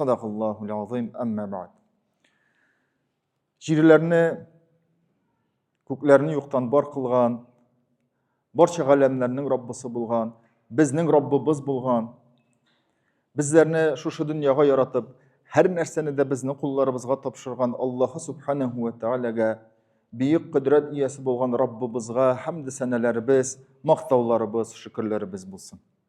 Садакаллаху лазим әммә бәд. Җирләрне, күкләрне юктан бар кылган, барча галәмнәрнең Раббысы булган, безнең Раббыбыз булган, безләрне шушы дөньяга яратып, һәр нәрсәне дә безнең кулларыбызга тапшырган Аллаһы субханәһу ва тәгаләгә, бөек кодрәт иясе булган Раббыбызга хәмд сәнәләребез, мактауларыбыз, шөкерләребез булсын.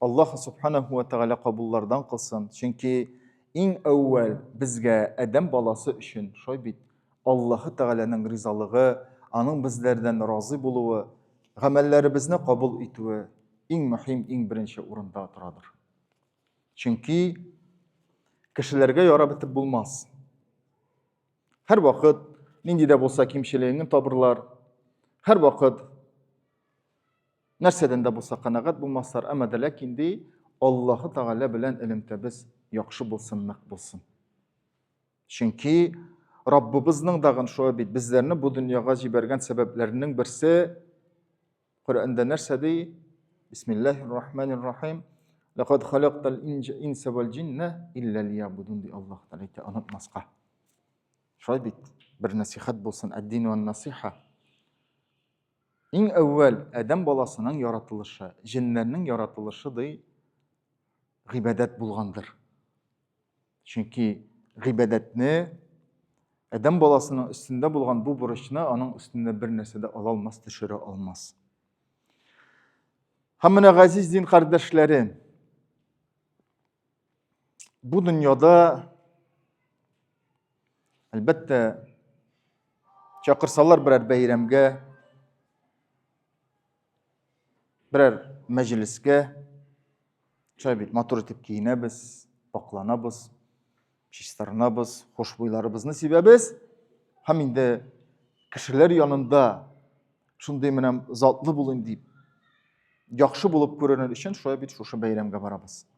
Аллаһ субханаху ва тәгалә кабуллардан кылсын. Чөнки иң әүвәл безгә Адәм баласы өчен шулай бит. Аллаһы тәгаләнең ризалыгы, аның безләрдән разый булуы, гамәлләребезне кабул итүе иң мөһим, иң беренче урында торадыр. Чөнки кешеләргә ярап бетеп булмас. Һәр вакыт нинди дә булса кимчелегеңне табырлар. Һәр вакыт нәрсәдән дә булса канәгать булмаслар, әмма дә ләкин ди, Аллаһы Тәгалә белән элемтәбез яхшы булсын, нык булсын. Чөнки Раббыбызның дагын шулай бит, безләрне бу дөньяга җибәргән сәбәпләренең берсе Коръәндә нәрсә ди? Бисмиллаһир рахманир рахим. Ләкад халактал инса вал джинна илля лиябудун ди Аллаһ Тәгалә әйтә, онытмаска. Шулай бит. Бер насихат булсын, әддин ва насиха. Иң әүвәл адәм баласының яратылышы, җеннәрнең яратылышы ди гыйбадәт булгандыр. Чөнки гыйбадәтне адәм баласының өстендә булган бу бурычны аның өстендә бер нәрсә дә ала алмас, төшерә алмас. Һәм менә газиз дин кардәшләре, Бу дөньяда әлбәттә чакырсалар берәр бәйрәмгә, берәр мәҗлескә, шулай бит матур итеп киенәбез, пакланабыз, чистарынабыз, хушбуйларыбызны сибәбез һәм инде кешеләр янында шундый менә затлы булыйм дип, яхшы булып күренер өчен шулай бит шушы бәйрәмгә барабыз.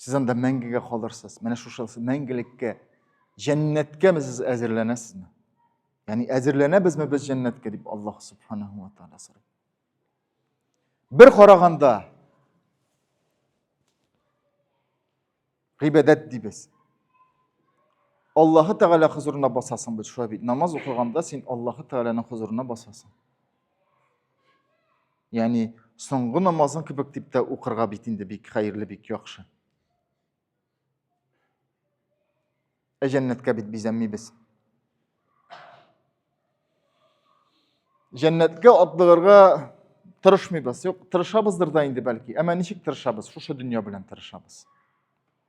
Сез анда мәңгегә калырсыз. Менә шушы мәңгелеккә, җәннәткә без сез әзерләнәсезме? Ягъни әзерләнәбезме без җәннәткә дип Аллаһ субханаһу ва тааля сорый. Бер караганда гыйбадәт дибез. Аллаһы Тәгалә хозурына басасың бит, шулай бит. Намаз укыганда син Аллаһы Тәгаләнең хозурына басасың. Яни соңгы намазың кебек дип тә укырга бит инде бик хәерле, бик яхшы. Ә җәннәткә бит бизәнмибез. Җәннәткә атлыгырга тырышмыйбыз. Юк, тырышабыздыр да инде бәлки. Әмма ничек тырышабыз? Шушы дөнья белән тырышабыз.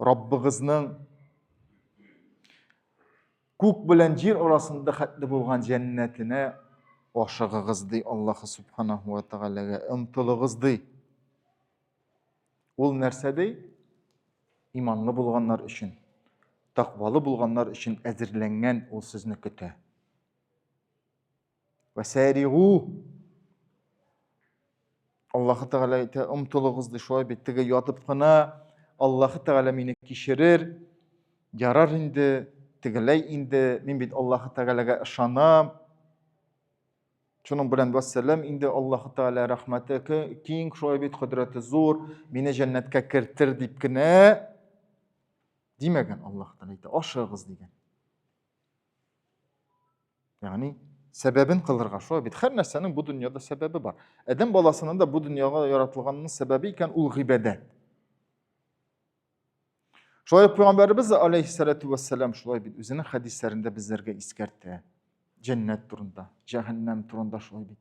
Раббыгызның күк белән җир арасында хәтле булган җәннәтенә ашыгыгыз ди Аллаһы субханаһу ва тәгаләгә омтылыгыз ди. Ул нәрсә ди? Иманлы булганнар өчен, тәкъвалы булганнар өчен әзерләнгән ул сезне көтә. Вәсәригу. Аллаһы Тәгалә әйтә, омтылыгыз ди, шулай бит, теге ятып кына Аллаһы Тәгалә мине кичерер, ярар инде, тегеләй инде, мин бит Аллаһы Тәгаләгә ышанам. Шуның белән вәссәлам инде Аллаһы Тәгалә рәхмәте киң, шулай бит кодрәте зур, мине җәннәткә кертер дип кенә димәгән Аллаһ Тәгалә әйтә, ашыгыз дигән. яғни сәбәбен кылырга шулай бит һәр нәрсәнең бу дөньяда сәбәбе бар адәм баласының да бу дөньяга яратылганының сәбәбе икән ул гыйбадәт шулай ук пайғамбарыбыз алейхисалату вассалам шулай бит үзенең хәдисләрендә безләргә искәртә жәннәт турында жәһәннәм турында шулай бит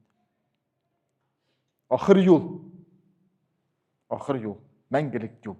ахыр юл ахыр юл мәңгелек юл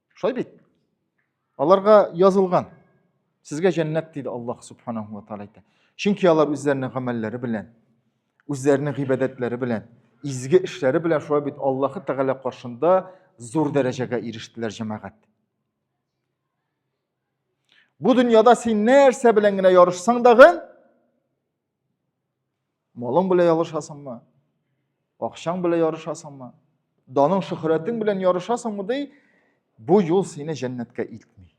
Шулай бит. Аларга язылган. Сезгә җәннәт диде Аллаһ субханаһу ва тааля әйтә. Чөнки алар үзләренең гамәлләре белән, үзләренең гыйбадәтләре белән, изге эшләре белән шулай бит Аллаһ Тәгалә каршында зур дәрәҗәгә ирештеләр җәмәгать. Бу дөньяда син нәрсә белән генә ярышсаң дагы, Малың белән ярышасыңмы? Акчаң белән ярышасыңмы? Даның шөхрәтең белән ярышасыңмы ди? Бу юл сине җәннәткә илтми.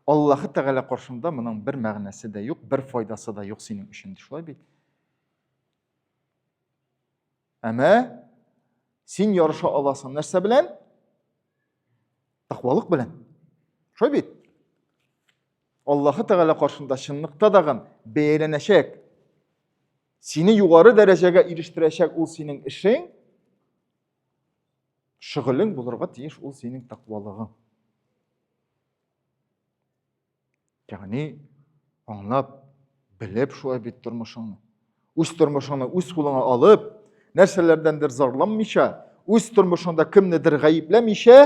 Аллаһы Тәгалә каршында моның бер мәгънәсе дә юк, бер файдасы да юк синең өчен, шулай бит? Әмә син ярыша аласың нәрсә белән? Тәкъвалык белән. Шулай бит? Аллаһы Тәгалә каршында чынлыкта дагын бәяләнәчәк. Сине югары дәрәҗәгә ирештерәчәк ул синең эшең, шөгылең булырга тиеш ул синең тәкъвалыгың. Ягъни аңлап, белеп шулай бит тормышыңны. Үз тормышыңны үз кулыңа алып, нәрсәләрдәндер зарланмыйча, үз тормышыңда кемнедер гаепләмичә,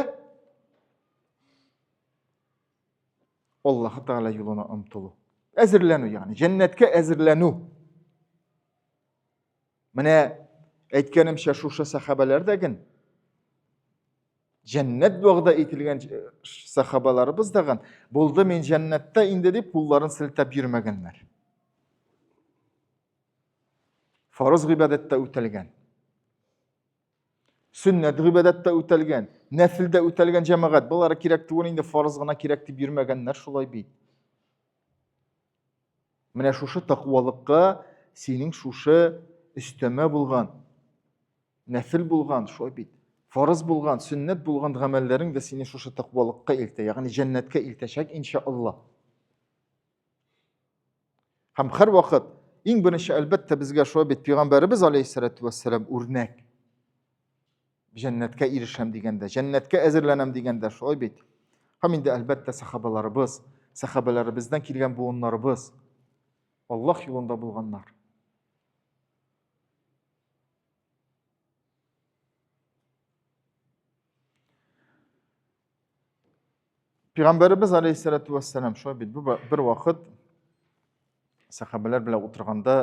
Аллаһы Тәгалә юлына омтылу. Әзерләнү, ягъни җәннәткә әзерләнү. Менә әйткәнемчә шушы сахабәләр дә ген җәннәт вәгъдә ителгән сахабаларыбыз да ген булды мин җәннәттә инде дип кулларын селтәп йөрмәгәннәр. Фарыз гыйбадәттә үтәлгән. Сөннәт гыйбадәттә үтәлгән, нәфилдә үтәлгән җәмәгать. Болары кирәк түгел инде, фарыз гына кирәк дип йөрмәгәннәр шулай бит. Менә шушы тәкъвалыкка синең шушы өстәмә булган, нәфил булган, шулай бит, фарыз булган, сөннәт булган гамәлләрең дә сине шушы тәкъвалыкка илтә, ягъни җәннәткә илтәчәк иншаалла. Һәм һәр вакыт иң беренче әлбәттә безгә шулай бит пәйгамбәребез алейхиссалату вассалам үрнәк. Җәннәткә ирешәм дигәндә, җәннәткә әзерләнәм дигәндә шулай бит. Һәм инде әлбәттә сахабаларыбыз, сахабаларыбыздан килгән буыннарыбыз Аллаһ юлында булганнар. Пәйгамбәребез алейхиссалату вассалам шулай бит бу бер вакыт сахабалар белән утырганда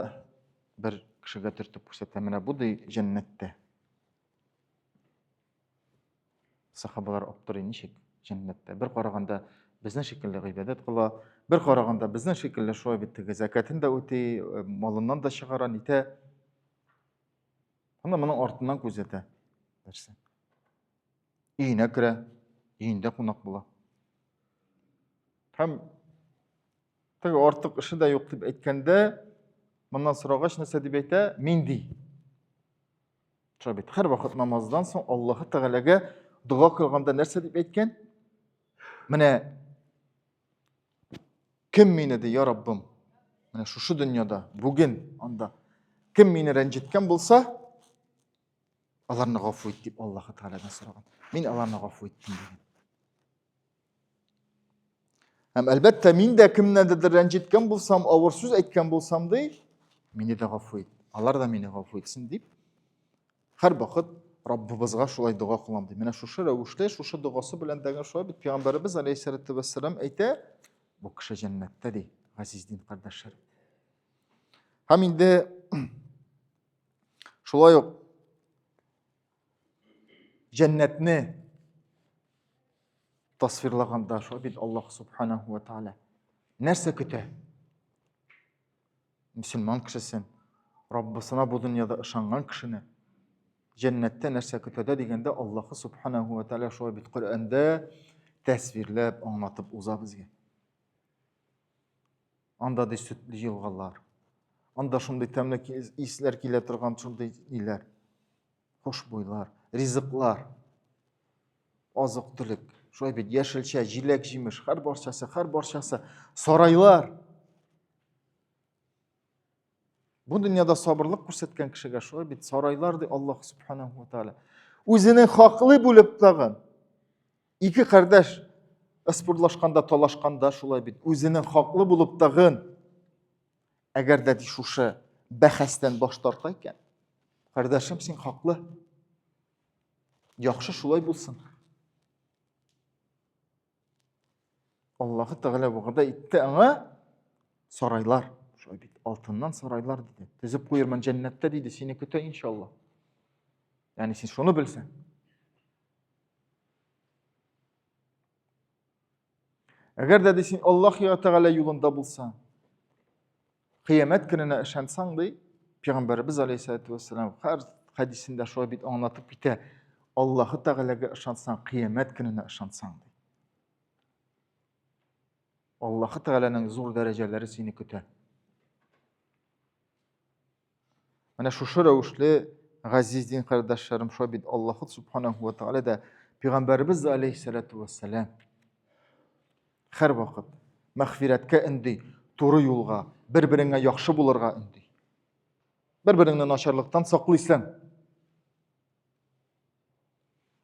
бер кешегә төртеп күрсәтә менә бу ди җәннәттә. Сахабалар аптырый ничек җәннәттә. Бер караганда безнең шикелле гыйбадәт кыла, бер караганда безнең шикелле шулай бит теге закатын да үти, э, малыннан да чыгара, нитә. Ана моның артыннан күзәтә. Нәрсә? өенә керә, өендә кунак була. Һәм теге артык эше дә юк дип әйткәндә, моннан сорагач нәрсә дип әйтә? Мин ди. Шулай бит. Һәр вакыт намаздан соң Аллаһы Тәгаләгә дога кылганда нәрсә дип әйткән? Менә кем мине ди, я Раббым? Менә шушы дөньяда, бүген анда кем мине рәнҗеткән булса, Аларны гафу ит дип Аллаһы Тәгаләдән сораган. Мин аларны гафу иттем дигән. Һәм әлбәттә, мин дә кемнәндер рәнҗеткән булсам, авыр сүз әйткән булсам ди, мине дә гафу ит. Алар да мине гафу итсен дип, һәр вакыт Раббыбызга шулай дога кылам ди. Менә шушы рәвешле, шушы догасы белән дәгән шулай бит пәйгамбәребез алейһиссалату вассалам әйтә, бу кеше җәннәттә ди, газиз дин кардәшләр. Һәм инде Шулай ук җәннәтне тасвирлаганда шулай бит Аллаһ субханаһу ва тааля нәрсә көтә? Мөселман кешесен, Раббысына бу дөньяда ышанган кешене җәннәттә нәрсә көтәдә дигәндә Аллаһ субханаһу ва тааля шулай бит Коръәндә тәсвирләп аңлатып уза безгә. Анда ди сөтле елгалар. Анда шундый тәмле исләр килә торган шундый ниләр. Хушбуйлар, ризыклар. Азык төлек. Шулай бит яшелчә, җиләк, җимеш, һәр барчасы, һәр барчасы. Сарайлар. Бу дөньяда сабырлык күрсәткән кешегә шулай бит сарайлар ди Аллаһ субханаһу ва тааля. Үзенең хаклы булып тагын Ике кардәш ыспурлашканда, талашканда шулай бит. Үзенең хаклы булып тагын әгәр дә шушы бәхәстән баш тарта икән, кардәшем, син хаклы. Яхшы шулай булсын. Аллаһы Тәгалә вәгъдә итте аңа сарайлар. Шулай бит, алтыннан сарайлар диде. Төзеп куермын җәннәттә диде, сине көтә иншалла. Ягъни син шуны белсәң. Әгәр дә син Аллаһ Тәгалә юлында булсаң, қиямәт көненә ышансаң, ди, Пәйгамбәрбез алейһиссәләтү вәссәлам һәр хәдисендә шулай бит аңлатып китә. Аллаһ Тәгаләгә ышансаң, қиямәт көненә ышансаң, ди. Аллаһ Тәгаләнең зур дәрәҗәләре сине көтә. Менә шушы рәвешле газиз дин кардәшләрем шулай бит Аллаһу субханаһу ва тааля да пәйгамбәребез дә алейһиссалату вассалам һәрвакыт мәгъфирәткә өнди, туры юлга, бер-береңә яхшы булырга өнди. Бер-береңне начарлыктан саклыйсың.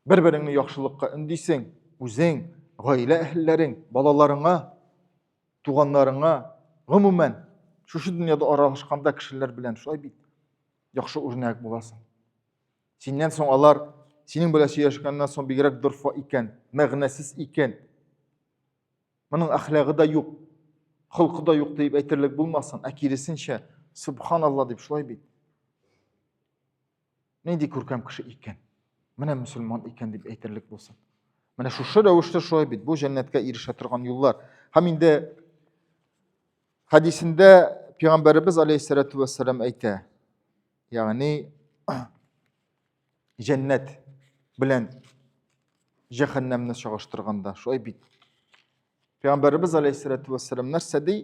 Бер береңне яхшылыкка үндисең, үзең, гаилә әһелләрең, балаларыңа, туганнарыңа, гомумән, шушы дөньяда аралашканда кешеләр белән шулай бит. Яхшы үрнәк буласың. Синнән соң алар синең белән сөйләшкәннән соң бигрәк дорфа икән, мәгънәсез икән. Моның әхлагы да юк, холкы да юк дип әйтерлек булмасын, ә киресенчә, субханалла дип шулай бит. нинди күркәм кеше икән менә мөселман икән дип әйтерлек булсын менә шушы рәвештә шулай бит бу жәннәткә ирешә торган юллар һәм инде хәдисендә пигамбәребез алейхисалату вассалам әйтә ягъни жәннәт белән жәһәннәмне чагыштырганда шулай бит пигамбәребез алейхисалату вассалам нәрсә ди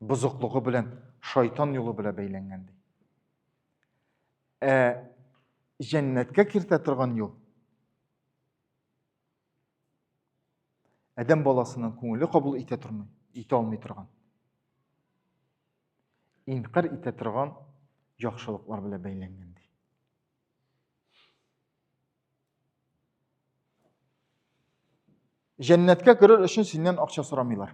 бозыклыгы белән шайтан юлы белән бәйләнгән ди. Ә җәннәткә кертә торган юл Адәм баласының күңеле кабул итә тормый, итә алмый торган. Инкар итә торган яхшылыклар белән бәйләнгән ди. Җәннәткә керер өчен синнән акча сорамыйлар.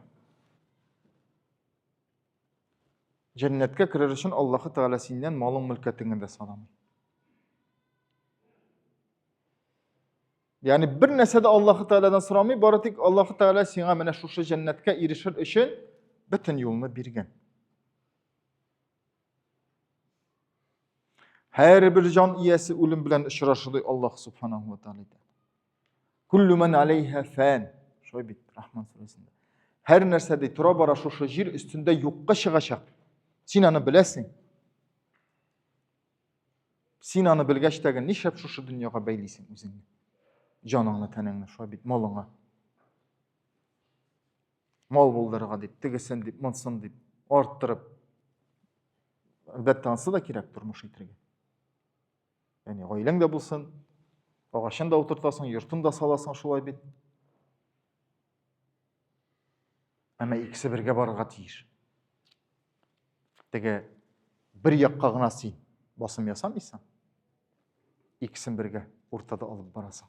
Җәннәткә керер өчен Аллаһы Тәгалә синнән малың мөлкәтеңне дә санамый. Ягъни бер нәрсә дә Аллаһы Тәгаләдән сорамый, бары тик Аллаһы Тәгалә сиңа менә шушы җәннәткә ирешер өчен бөтен юлны биргән. Һәрбер җан иясе үлем белән очрашы ди Аллаһ субханаһу ва тааля әйтә. Куллу ман алейха фан. Шулай бит Рахман сүрәсендә. Һәр нәрсә ди тора бара шушы җир өстендә юкка чыгачак. Син аны беләсең. Син аны белгәч тәген нишләп шушы дөньяга бәйлисең үзеңне? Җаныңны, тәнеңне, шулай бит малыңа. мал булдырырга дип тегесен дип монсын дип арттырып әлбәттә анысы да кирәк тормыш итәргә яғни гаиләң дә булсын агачын да утыртасың йортын да саласың шулай бит әмма икесе бергә барырга тиеш теге бер якка гына син басым ясамыйсың икесен бергә уртада алып барасың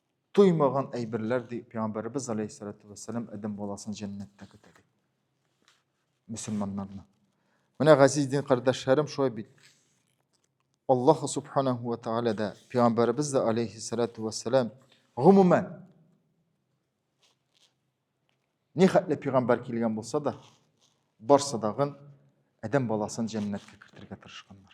Туймаган әйберләр ди Пәйгамбәребез алейхиссалату вәссәлам Адәм баласын җәннәттә көтә ди. Мөселманнарны. Менә газиз дин кардәшләрем шулай бит. Аллаһ субханаһу ва тааля да, Пәйгамбәребез дә алейхиссалату вәссәлам гомумән ни хәтле пәйгамбәр килгән булса да, барсы дагын Адәм баласын җәннәткә кертергә тырышканнар.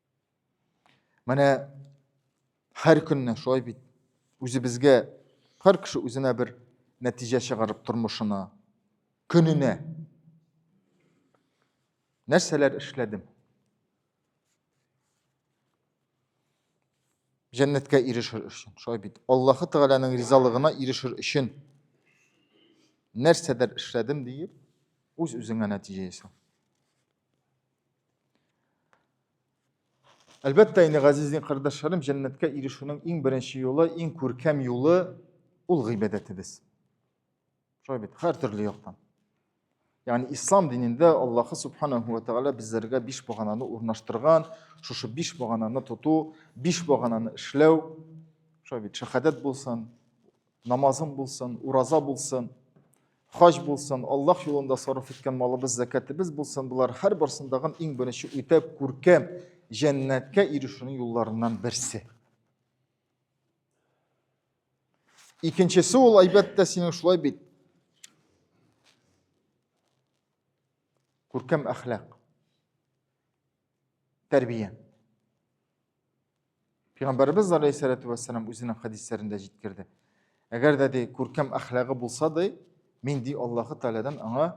Менә һәр көнне шулай бит. Үзебезгә һәр кеше үзенә бер нәтиҗә чыгарып тормышына, көненә. Нәрсәләр эшләдем? Җәннәткә ирешер өчен, шулай бит. Аллаһы Тәгаләнең ризалыгына ирешер өчен нәрсәдер эшләдем диеп, үз-үзеңә нәтиҗә ясау. Әлбәттә инде, газизин кардәшләрем, җәннәткә ирешүнең иң беренче юлы, иң күркәм юлы ул гыйбадәтебез. Шулай бит, һәр төрле яктан. Ягъни ислам динендә Аллаһы субханаһу ва тагала безләргә биш багананы урнаштырган, шушы биш багананы тоту, биш багананы эшләү, шулай бит, шәһадәт булсын, Намазың булсын, ураза булсын, хаҗ булсын, Аллаһ юлында сарыф иткән малыбыз, зәкәтебез булсын, болар һәр барсындагын иң беренче үтә күркәм җәннәткә ирешүнең юлларыннан берсе. Икенчесе ул, әлбәттә, синең шулай бит. Күркәм әхлак. Тәрбия. Пәйгамбәребез алейхиссалату вассалам үзенең хәдисләрендә җиткерде. Әгәр дә ди күркәм әхлагы булса да, мин ди Аллаһы Тәгаләдән аңа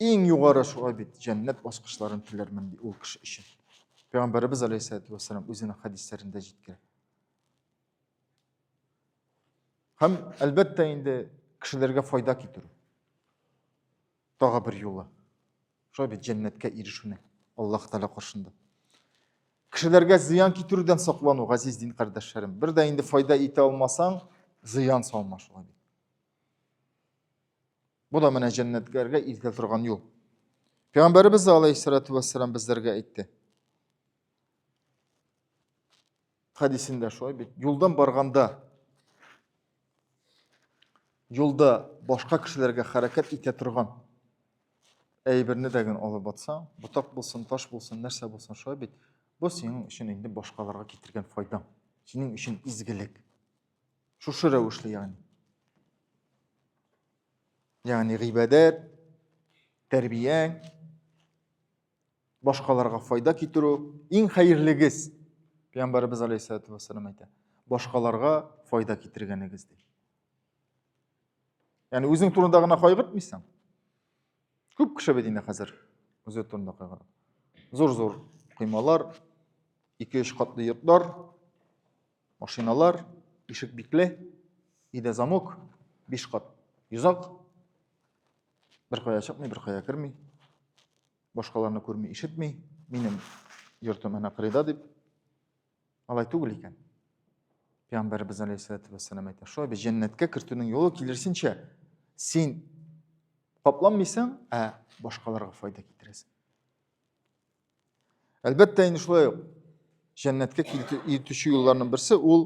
иң югары шулай бит җәннәт баскычларын теләрмен ди ул кеше өчен. Пәйгамбәребез алейхиссалату вассалам үзенең хәдисләрендә җиткерә. Һәм әлбәттә инде кешеләргә файда китерү. Тагы бер юлы. Шулай бит җәннәткә ирешүнең Аллаһ Тәгалә каршында. Кешеләргә зыян китерүдән саклану, газиз дин кардәшләрем. Бер дә инде файда итә алмасаң, зыян салма шулай бит. Бу да менә җәннәткәргә илтә торган юл. Пәйгамбәребез алейхиссалату вассалам безләргә әйтте. хәдисендә шулай бит юлдан барганда юлда башка кешеләргә хәрәкәт итә торган әйберне дә генә алып атсаң ботак булсын таш булсын нәрсә булсын шулай бит бу синең өчен инде башкаларга китергән файдаң синең өчен изгелек шушы рәвешле ягъни ягъни гыйбадәт тәрбияң башкаларга файда китерү иң хәерлегез пәйгамбәребез алейхисалату вассалам әйтә башкаларга файда китергәнегез ди яғни үзең турында гына кайгыртмыйсың күп кеше бит инде хәзер үзе турында кайгыра зур зур коймалар ике өч катлы йортлар машиналар ишек бикле өйдә замок биш кат йозак беркая чыкмый, беркая керми, башкаларны күрми, ишетми, минем йортым әнә кырыйда дип. Алай түгел икән. Пәйгамбәрбез алейхиссалату вассалам әйтә, шулай без җәннәткә кертүнең юлы килерсенчә син капланмыйсың, ә башкаларга файда китерәсең. Әлбәттә, инде шулай ук җәннәткә китүче юлларның берсе ул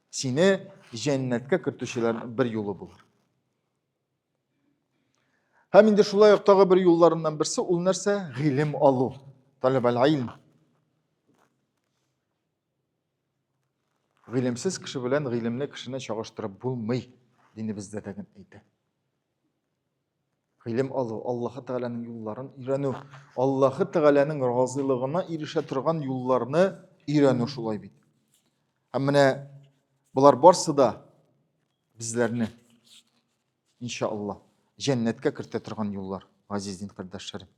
Сине җәннәткә кертүчеләрнең бер юлы булыр. Һәм инде шулай ук тагы бер юлларыннан берсе ул нәрсә? Гыйлем алу. Таләб аль-илм. Гыйлемсез кеше белән гыйлемле кешене чагыштырып булмый, динебездә дә әйтә. Гыйлем алу, Аллаһы Тәгаләнең юлларын өйрәнү, Аллаһы Тәгаләнең разыйлыгына ирешә торган юлларны өйрәнү шулай бит. Һәм менә болар барсы да безләрне иншалла җәннәткә кертә торган юллар, газиз дин кардәшләрем.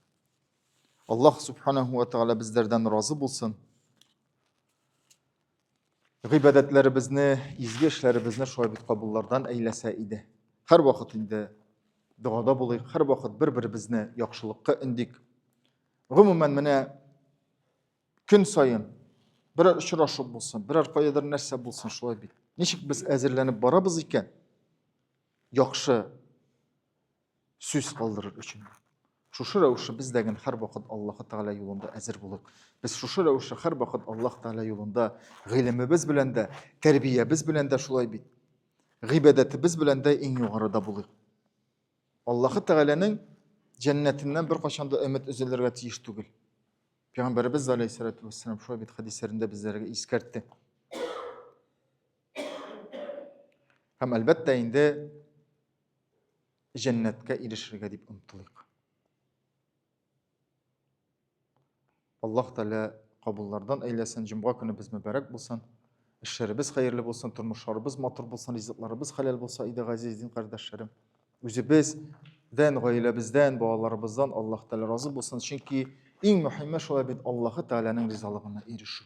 Аллаһ субханаһу ва тәгалә безләрдән разы булсын. гыйбадәтләребезне, изге эшләребезне шулай бит кабуллардан әйләсә иде. Һәрвакыт инде догада булыйк, һәрвакыт бер-беребезне яхшылыкка өндик. Гомумән, менә көн саен берәр очрашу булсын, берәр каядыр нәрсә булсын, шулай бит. Ничек без әзерләнеп барабыз икән? Яхшы сүз калдырыр өчен шушы рәвешле без дә генә һәрвакыт аллаһы тәғәлә юлында әзер булып без шушы рәвешле һәрвакыт аллаһ тәғәлә юлында гыйлемебез белән дә тәрбиябез белән дә шулай бит гыйбадәтебез белән дә иң югарыда булыйк аллаһы тәғәләнең жәннәтеннән беркайчан да өмет өзелергә тиеш түгел пәйғамбәребез алейхисалату вассалам шулай бит хәдисләрендә безләргә искәртте һәм әлбәттә инде җәннәткә ирешергә дип омтылыйк. Аллаһ Тәгалә кабуллардан әйләсен, җомга көнебез мөбарәк булсын. Эшләребез хәерле булсын, тормышларыбыз матур булсын, ризыкларыбыз хәләл булса, иде газиз дин кардәшләрем. Үзебез дән, гаиләбездән, балаларыбыздан Аллаһ Тәгалә разы булсын, чөнки иң мөһиме шулай бит Аллаһ Тәгаләнең ризалыгына ирешү.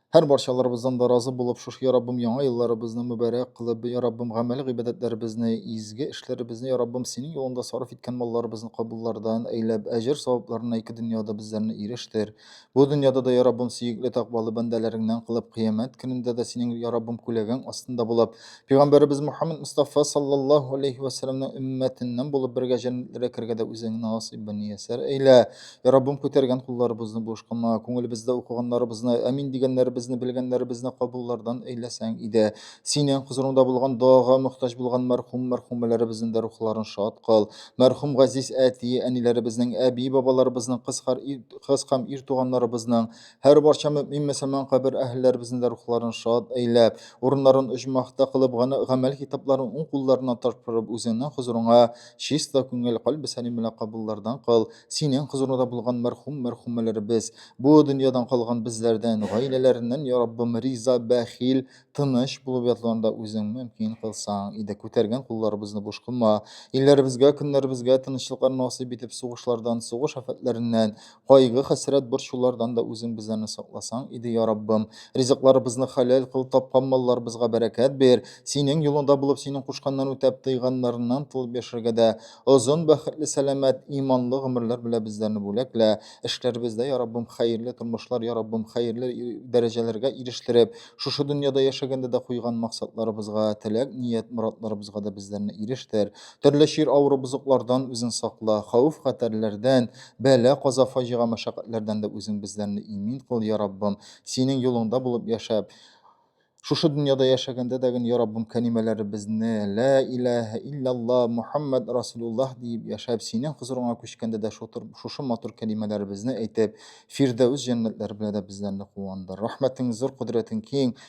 Һәр барчаларыбыздан да разы булып, шушы я Раббым яңа елларыбызны мөбарәк кылып, я Раббым гамәли гыйбадәтләребезне, изге эшләребезне, я Раббым синең юлыңда сарыф иткән малларыбызны кабуллардан әйләп, әҗер савапларына ике дөньяда безләрне ирештер. Бу дөньяда да, я Раббым, сөекле тәкъвалы бәндәләреңнән кылып, кыямәт көнендә дә синең, я Раббым, күләгәң астында булып, пәйгамбәребез Мөхәммәд Мостафа саллаллаһу алейһи вә сәлләмнең өммәтеннән булып бергә җәннәтләргә керергә дә үзеңне насыйп бәниясәр әйлә. Я Раббым, күтәргән кулларыбызны бушкама, күңелебездә укыганнарыбызны, әмин дигәннәребезне, белгәннәребезне кабуллардан әйләсәң иде. Синең хозурыңда булган дога мөхтаҗ булган мәрхүм мәрхүмәләребезнең дә рухларын шат кыл. Мәрхүм газиз әти, әниләребезнең, әби, бабаларыбызның, кыз, хар, кыз һәм ир туганнарыбызның, һәр барча мөмин мөселман кабер әһелләребезнең дә рухларын шат әйләп, урыннарын оҗмахта кылып, гамәл китапларын уң кулларына тапшырып, үзеңнең хозурыңа Чиста күңел, кальбе сәлим белән кабуллардан кыл, Синең хозурыңда булган мәрхүм, мәрхүмәләребез, бу дөньядан калган безләрдән, гаиләләреннән, я Раббым, риза, бәхил, тыныч булып ятларын да Үзең мөмкин кылсаң иде. Күтәргән кулларыбызны буш кылма. Илләребезгә, көннәребезгә тынычлыклар насыйп итеп, сугышлардан, сугыш афәтләреннән, Кайгы, хәсрәт, борчулардан да үзең безләрне сакласаң иде, я Раббым. Ризыкларыбызны хәләл кыл, тапкан малларыбызга бәрәкәт бир. Синең юлыңда булып, синең кушканнан үтәп, тыйганнарыннан тылып яшәргә дә озын, бәхетле, сәламәт, иманлы гомерләр белә безләрне бүләклә. Эшләребездә, я Раббым, хәерле тормышлар, я Раббым, хәерле дәрәҗәләргә ирештереп, шушы дөньяда яшәгәндә дә куйган максатларыбызга, теләк, ният, моратларыбызга да безләрне ирештер. Төрле чир, авыру, бозыклардан үзең сакла, хәвеф-хәтәрләрдән, Бәла, каза, фаҗига, мәшәкатьләрдән дә үзең безләрне имин кыл, я Раббым. Синең юлыңда булып яшәп, шушы дөньяда яшәгәндә дә гөн, я Раббым, кәлимәләребезне Лә иләһә иллялла Мухаммад Расулуллаһ диеп яшәп, синең хозурыңа күчкәндә дә шушы матур кәлимәләребезне әйтеп, Фирдәүс җәннәтләре белән дә безләрне куандыр. Рәхмәтең зур, кодрәтең киң.